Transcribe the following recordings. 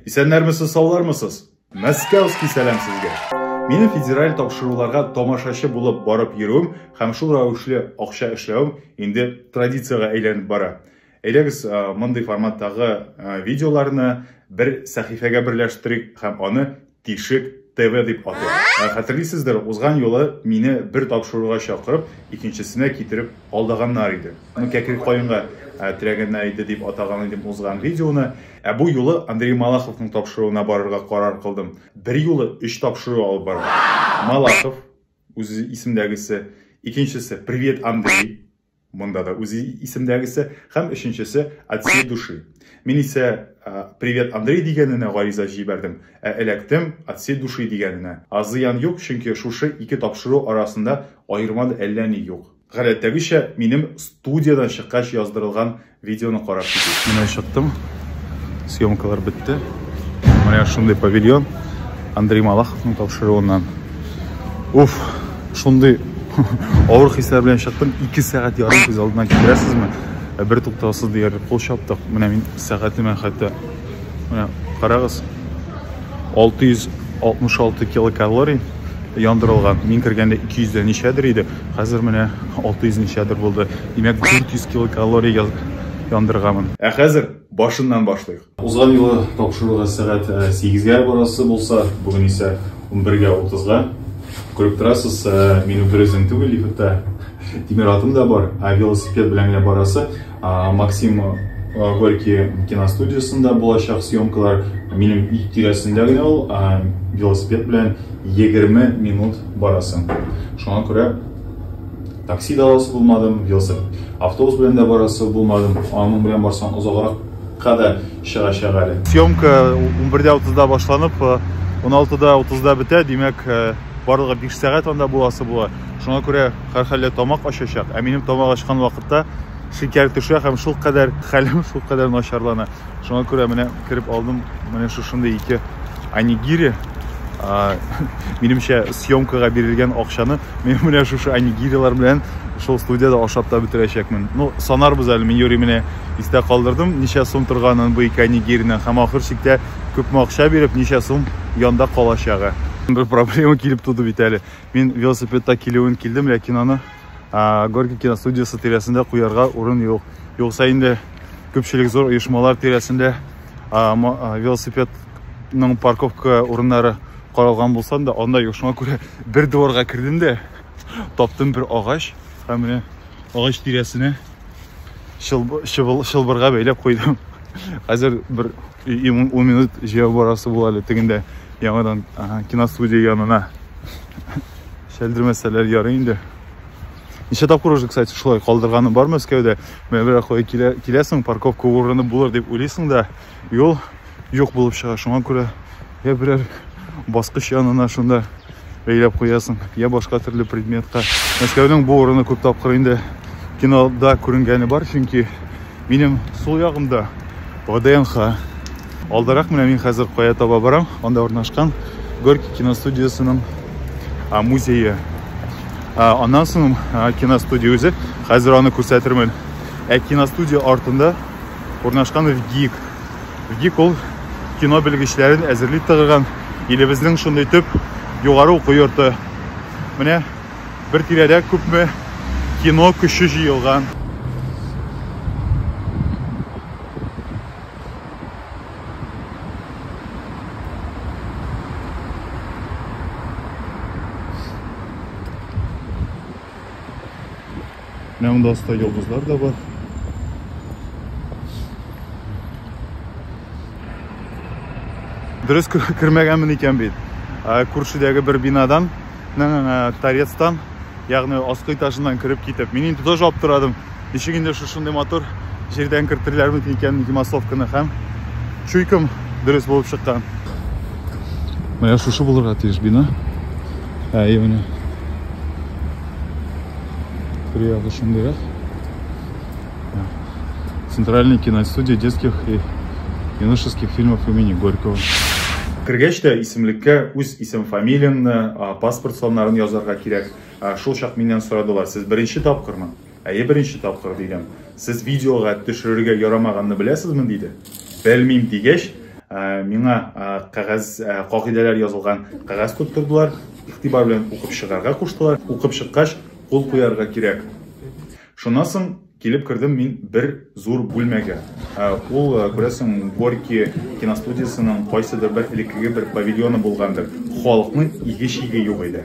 Исәннәрмесез, саулармысыз? Мәскәүский сәлам сезгә! Минем федераль тапшыруларга тамашачы булып барып йөрүем һәм шул рәвешле акча эшләвем инде традициягә әйләнеп бара. Әйдәгез, мондый форматтагы видеоларны бер сәхифәгә берләштерик һәм аны Тишек ТВ дип атыйк. Хәтерлисездер, узган юлы мине бер тапшыруга чакырып, икенчесенә китереп алдаганнар иде. Ну, кәкре каенга терәгәннәр иде дип атаган идем узган видеоны. Ә бу юлы Андрей Малаховның тапшыруына барырга карар кылдым. Бер юлы өч тапшыру алып бардым. Малахов, үзе исемдәгесе, икенчесе Привет, Андрей, монда да үзе исемдәгесе, һәм өченчесе От всей души. Мин исә Привет, Андрей дигәненә гариза җибәрдем, ә эләктем От всей души дигәненә. Зыян юк, чөнки шушы ике тапшыру арасында аерма да әллә ни юк. Гадәттәгечә, минем студиядән чыккач яздырылган видеоны карап китик. Менә чыктым. Съемкалар бетте. Менә шундый павильон Андрей Малаховның тапшыруыннан. Уф, шундый авыр хисләр белән чыктым. 2 сәгать ярым күз алдына китерәсезме? Бер туктаусыз диярлек кул чаптык. Менә мин сәгатемә хәтта Менә карагыз. 666 килокалорий яндырылган. Мин кергәндә 200 дә ничәдер иде. Хәзер менә 600 ничәдер булды. Димәк, 400 килокалорий яндырганмын. Ә хәзер башыннан башлыйк. Узган юлы тапшыруга сәгать 8-гә э, барасы булса, бүген исә 11-гә 30-га. Күреп торасыз, э, мин берүзем түгел, лифтта тимер атым да бар, ә велосипед белән генә барасы. Максим Горький киностудиясендә булачак съемкалар минем өй тирәсендә генә ул, велосипед белән 20 минут барасың. Шуңа күрә такси да аласы булмадым, велосипед, автобус белән дә барасы булмадым. Аның белән барсаң озаграк кадәр чыгачак әле. Съемка 11:30-да башланып, 16:30-да бетә, димәк, барлыгы 5 сәгать анда буласы була. Шуңа күрә һәрхәлдә тамак ачачак, ә минем тамак ачкан вакытта шикәр төшә һәм шул кадәр хәлем шул кадәр начарлана. Шуңа күрә менә кереп алдым, менә шушындый ике анигири. Минемчә съемкага бирелгән акчаны мин менә шушы анигирилар белән шул студияда ашап та бетерәчәкмен. Ну, санарбыз әле, мин юри менә истә калдырдым, ничә сум торганын бу ике анигиринең һәм ахыр чиктә күпме акча биреп, ничә сум янда калачагы. Бер проблема килеп туды бит әле. Мин велосипедта килүен килдем, ләкин аны Горький киностудиясе тирәсендә куярга урын юк. Юкса инде күпчелек зур оешмалар тирәсендә велосипедның парковка урыннары каралган булса да, анда юк. Шуңа күрә бер дворга кердем дә таптым бер агач һәм менә агач тирәсенә чылбырга бәйләп куйдым хәзер бер 10 минут җәяү барасы була әле тегендә яңадан киностудия янына чәлдермәсәләр ярый инде ничә тапкыр уже кстати шулай калдырганым бар мәскәүдә менә бер кая киләсең парковка урыны булыр дип уйлыйсың да юл юк булып чыга. Шуңа күрә я берәр баскыч янына шунда бәйләп куясың, я башка төрле предметка. Мәскәүнең бу урыны күп тапкыр инде кинода күренгәне бар, чөнки минем сул ягымда ВДНХ. Алдарак менә мин хәзер кая таба барам, анда урнашкан Горький киностудиясенең музее. Аннан соң киностудия үзе, хәзер аны күрсәтермен. Ә киностудия артында урнашкан ВГИК ГИК ул кино белгечләрен әзерли тыгыган илебезнең шундый төп югары уку йорты. Менә бер тирәдә күпме кино көче җыелган. Менә монда аста йолдызлар да бар. Дөрес кермәгәнмен икән бит. Күршедәге бер бинадан, торецтан, ягъни аскы этажыннан кереп китеп. Мин инде тоже аптырадым. Ничек инде шушындый матур җирдән кертерләрме икән массовканы һәм чуйкам дөрес булып чыккан. Менә шушы булырга тиеш бина. Ә, менә Приятно шундыйрак. Центральная киностудия детских и юношеских фильмов имени Горького. Кергәч тә исемлеккә үз исем фамилияңне, паспорт саннарын язарга кирәк. Шул чак миннән сорадылар, сез беренче тапкырмы? Әйе, беренче тапкыр, дидем. Сез видеога төшерергә ярамаганны беләсезме, диде. Белмим дигәч, миңа кәгазь кагыйдәләр язылган кәгазь тоттырдылар, игътибар белән укып чыгарга куштылар. Укып чыккач, кул куярга кирәк. Шуннан соң килеп кердем мин бер зур бүлмәгә. Ул, күрәсең, Горький киностудиясенең кайсыдыр бер элеккеге бер павильоны булгандыр. Халыкның иге-чиге юк иде.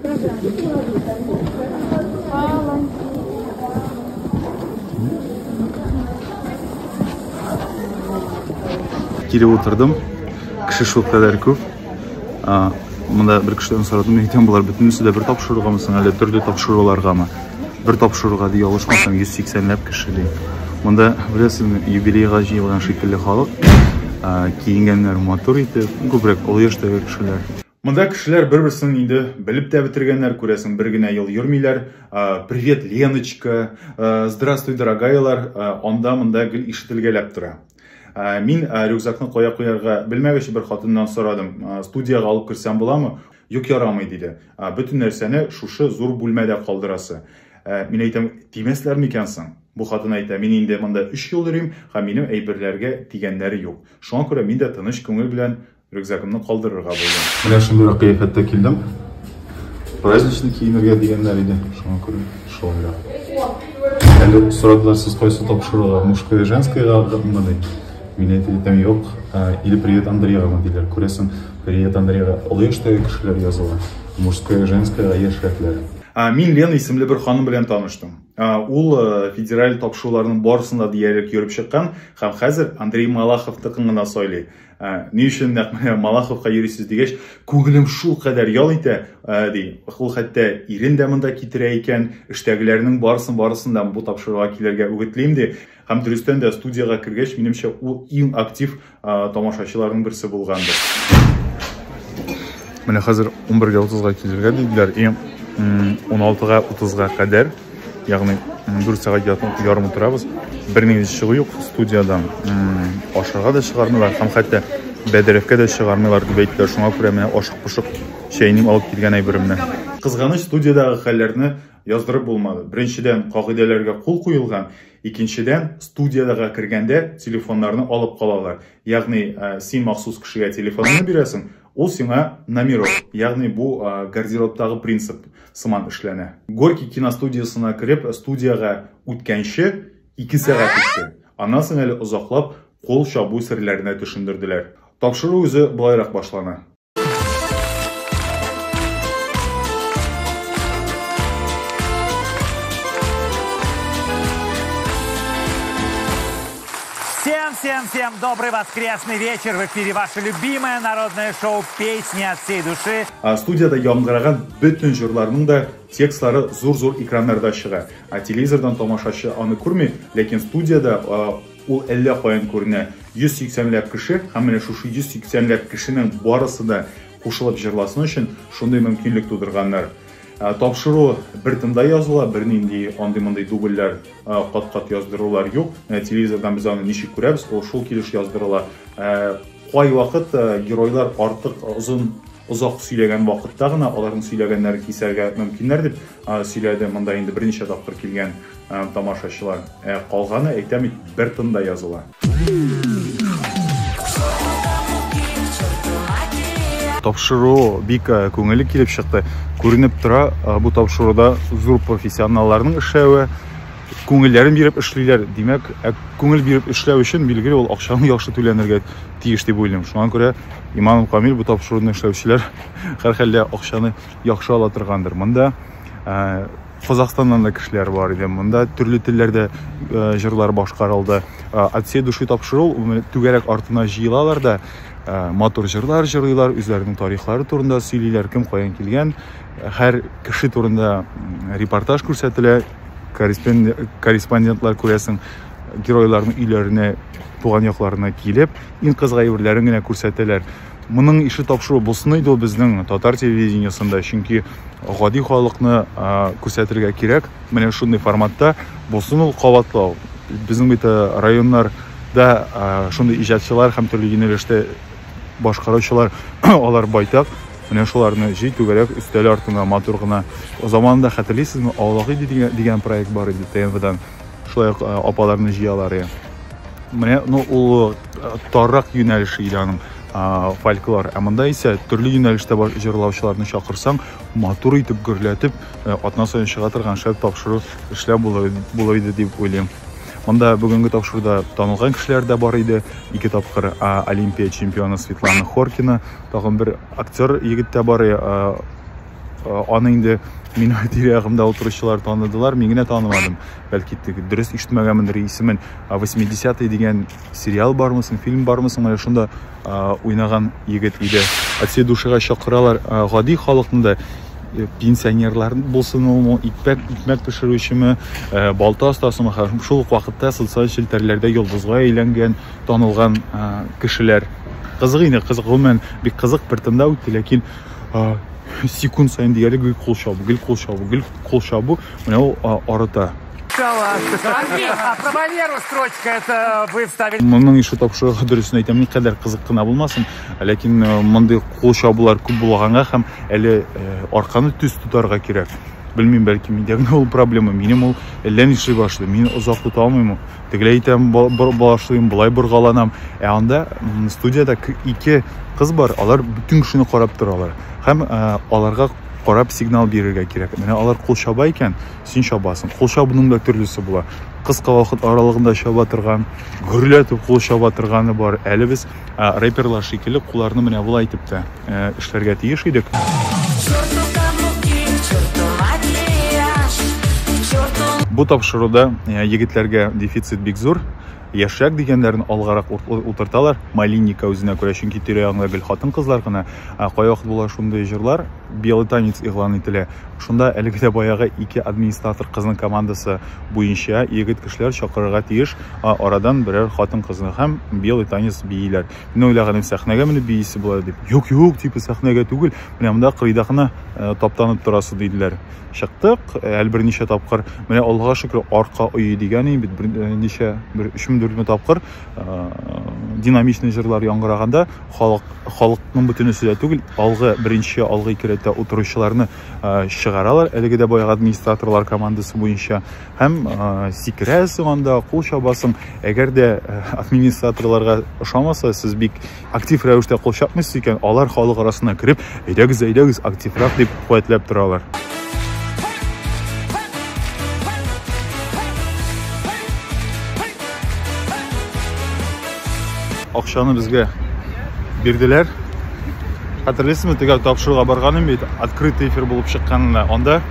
Кире утырдым. Кеше шул кадәр күп. Монда бер кешедән сорадым, әйтәм, болар бөтенесе дә бер тапшыругамы соң, әле төрле тапшыруларгамы? Бер тапшыруга ди, ялгышмасам, 180 ләп кеше ди. Монда, беләсезме, юбилейга җыелган шикелле халык, киенгәннәр матур итеп, күбрәк олы яшьтәге кешеләр. Монда кешеләр бер-берсен инде белеп тә бетергәннәр, күрәсең, бер генә ел йөрмиләр. Привет, Леночка, здравствуй, дорогайлар, анда монда гел ишетелгәләп тора. Мин рюкзакны кая куярга белмәгәч бер хатыннан сорадым, студиягә алып керсәм буламы? Юк, ярамый диде. Бөтен нәрсәне шушы зур бүлмәдә калдырасы. Мин әйтәм, тимәсләр микән соң? Бу хатын әйтә, мин инде монда 3 ел йөрим, һәм минем әйберләргә тигәннәре юк. Шуңа күрә мин дә тыныч күңел белән Рюкзагымны калдырырга булдым. Менә шундыйрак кыяфәттә килдем. Праздничный киенергә дигәннәр иде. Шуңа күрә шулайрак. Әле сорадылар, сез кайсы тапшыруга, мужское, женское гамманы? Мин әйтеп итәм, юк. Или привет Андреевна диләр. Күрәсең, привет Андреева олы яшьтәге кешеләр языла. Мужское, женское, яшьрәкләр. Мин Лена исемле бер ханым белән таныштым. Ул э, федераль тапшыруларның барысында диярлек йөреп чыккан һәм хәзер Андрей Малаховтыкын гына сайлый. Ә, ни өчен нәкъ менә Малаховка йөрисез дигәч, күңелем шул кадәр ял итә, ә, ди. Ул хәтта ирен дә монда китерә икән, эштәгеләрнең барысын барысын да бу тапшыруга килергә үгетлим, ди. Һәм дөрестән дә студиягә кергәч, минемчә, ул иң актив ә, тамашачыларның берсе булгандыр. Менә хәзер 11:30-га килергә диделәр, и 16-га 30-га кадәр Ягъни 4 сәгать ярым утырабыз. Бернинди чыгу юк студиядән. Ашарга да чыгармыйлар һәм хәтта бәдрәфкә дә чыгармыйлар дип әйттеләр. Шуңа күрә менә ашык пошык чәйнем алып килгән әйберемне. Кызганыч, студиядәге хәлләрне яздырып булмады. Беренчедән, кагыйдәләргә кул куелган, икенчедән, студиядәгә кергәндә телефоннарны алып калалар. Ягъни, син махсус кешегә телефоныңны бирәсең, Ул сиңа номерок, ягъни бу гардеробтагы принцип сыман эшләнә. Горький киностудиясына кереп, студиягә үткәнче ике сәгать үтте. Аннан соң әле озаклап кул чабу серләренә төшендерделәр. Тапшыру үзе болайрак башлана. Всем, всем, всем добрый воскресный вечер. В эфире ваше любимое народное шоу «Песни от всей души». А студияда яңгыраган бөтен жырларның да текстлары зур-зур экраннарда чыга. А телевизордан тамашачы аны күрми, ләкин студияда ул әллә каян күренә. 180 ләп кеше, һәм менә шушы 180 ләп кешенең барысы да кушылып жырласын өчен шундый мөмкинлек тудырганнар. Ә тапшыру бер тында языла, бернинди андый-мондый дубльләр, кат-кат яздырулар юк. Менә телевизордан без аны ничек күрәбез, ул шул килеш яздырыла. Ә кайвакыт геройлар артык озын озак сөйләгән вакытта гына аларның сөйләгәннәрен кисәргә мөмкиннәр дип сөйләде, монда инде берничә тапкыр килгән. Тамашачылар, ә калганы, әйтәм бит, бер тында языла. Тапшыру бик күңелле килеп чыкты. Күренеп тора, бу тапшыруда зур профессионалларның эшләве, күңелләрен биреп эшлиләр. Димәк, ә күңел биреп эшләү өчен билгеле ул акчаны яхшы түләнергә тиеш дип уйлыйм. Шуңа күрә Иманов Камил бу тапшыруны эшләүчеләр һәрхәлдә акчаны яхшы ала торгандыр. Монда Казахстаннан да кешеләр бар иде. Монда төрле телләрдә җырлар башкарылды. От всей души тапшыру түгәрәк артына җыелалар да матур җырлар җырлыйлар, үзләренең тарихлары турында сөйлиләр, кем каян килгән, һәр кеше турында репортаж күрсәтелә, корреспондентлар күрәсең, геройларның өйләренә, туган якларына килеп, иң кызык әйберләрен генә күрсәтәләр. Моның ише тапшыру булсын иде ул безнең татар телевидениесында, чөнки гади халыкны күрсәтергә кирәк. Менә шундый форматта булсын ул кабатлау. Безнең бит районнарда шундый иҗатчылар һәм төрле юнәлештә башкаручылар алар байтак. Менә шуларны җый түгәрәк өстәл артына матур гына. Заманында хәтерлисезме, Авлагыйди дигән проект бар иде ТМВдан. Шулай ук э, апаларны җыялар. Э. Менә ну ул э, таррак юнәлеше иде аның фольклор. Ә монда исә төрле юнәлештә җырлаучыларны чакырсаң, матур итеп гөрләтеп атна саен чыга торган шәп тапшыру эшләп була иде дип уйлыйм. Монда бүгенге тапшыруда танылган кешеләр дә бар иде. Ике тапкыр Олимпия чемпионы Светлана Хоркина, тагын бер актер егет тә бар, Аны инде минем тирә-ягымда утыручылар таныдылар, мин генә танымадым. Бәлки дөрес ишетмәгәнмендер исемен. 80-е дигән сериал бармы соң, фильм бармы соң, менә шунда уйнаган егет иде. От всей душига чакыралар гади халыкны да э, пенсионерлар булсын ул икмәк икмәк пешерүчеме э, балта остасымы һәм шул ук вакытта социаль челтәрләрдә йолдызга әйләнгән танылган кешеләр кызык инде кызык гомумән бик кызык бер тында үтте ләкин секунд сайын диярлек гел кул чабу гел кул чабу гел кул чабу менә ул арыта про валеру строчка это вы вставили моның ише тапшырыгы дөресен әйтәм никадәр кызык кына булмасын ләкин э, мондый кул чабулар күп булганга һәм әле э, арканы төз тотарга кирәк белмим бәлки миндә генә ул проблема минем ул әллә нишләй башлый мин озак тота алмыйм тегеләй итәм башлыйм болай боргаланам ә анда студияда ике кыз бар алар бөтен кешене карап торалар һәм ә, аларга карап сигнал бирергә кирәк менә алар кул чаба икән син чабасың кул чабуның да төрлесе була кыска вакыт аралыгында чаба торган гөрләтеп кул чаба торганы бар әле без ә, рэперлар шикелле кулларны менә болай итеп тә эшләргә тиеш идек. Бу тапшыруда егетләргә дефицит бик зур. Яшьрәк дигәннәрен алгарак утырталар. Малинника үзенә күрә, чөнки тирә-ягында гел хатын-кызлар гына. Кайвакыт була шундый җырлар, белый танец игълан ителә. Шунда әлеге дә баягы ике администратор кызның командасы буенча егет кешеләр чакырырга тиеш, арадан берәр хатын-кызны һәм белый танец бииләр. Мин уйлаганым сәхнәгә менеп биисе була дип. Юк, юк, типа сәхнәгә түгел. Менә монда кырыйда гына э, таптанып торасы диделәр. Чыктык, э, әле берничә тапкыр. Менә Аллага шөкер, арка өе дигән инде бит берничә э, бер 3-4 тапкыр динамичный җырлар яңгыраганда халык халыкның бөтенесе дә түгел, алгы беренче алгы ике рәттә утыручыларны чыгаралар. Әлеге дә баягы администраторлар командасы буенча һәм сикерәсең анда кул чабасың әгәр дә администраторларга ошамаса сез бик актив рәвештә кул чапмыйсыз икән алар халык арасына кереп әйдәгез әйдәгез активрак дип куәтләп торалар акчаны безгә бирделәр хәтерлисезме тегәл тапшыруга барганым бит открытый эфир булып чыкканына анда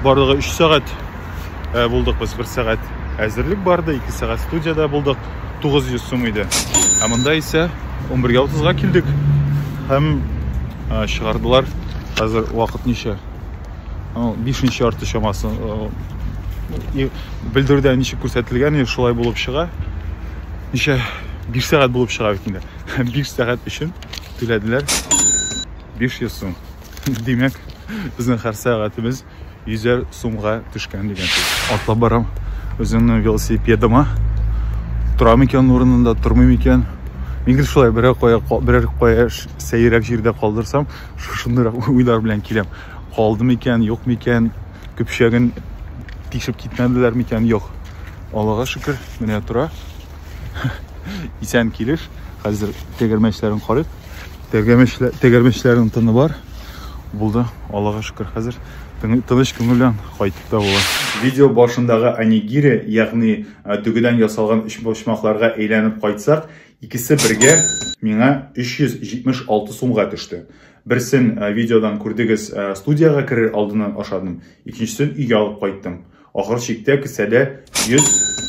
Барлыгы өч сәгать э, булдык без, бер сәгать әзерлек барды, ике сәгать студияда булдык, 900 сум иде. Ә монда исә 11.30-га килдек һәм э, чыгардылар. Хәзер вакыт ничә? Бишенче ярты чамасы. Э, Белдерүдә ничек күрсәтелгән, шулай булып чыга. Ничә? Биш сәгать булып чыга бит инде. Биш сәгать өчен түләделәр 500 сум. Димәк, безнең һәр сәгатебез 100 сумга төшкән дигән сүз. Атлап барам үземнең велосипедыма. Тора микән урынында, тормый микән? Мин гел шулай берәр кая, берәр кая сәйрәк җирдә калдырсам, шушындый уйлар белән киләм. Калды микән, юк микән? Көпшәген тишеп китмәделәр микән? Юк. Аллага шөкер, менә тора. Исән килеш. Хәзер тегермәчләрен карыйк. Тәгәрмәчләрнең тыны бар. Булды, Аллага шөкер, хәзер тыныч күңел белән кайтып та була. Видео башындагы анигире, ягъни дөгедән ясалган өчпочмакларга әйләнеп кайтсак, икесе бергә миңа 376 сумга төште. Берсен видеодан күрдегез, студиягә керер алдыннан ашадым, икенчесен өйгә алып кайттым. Ахыр чиктә кесәдә 100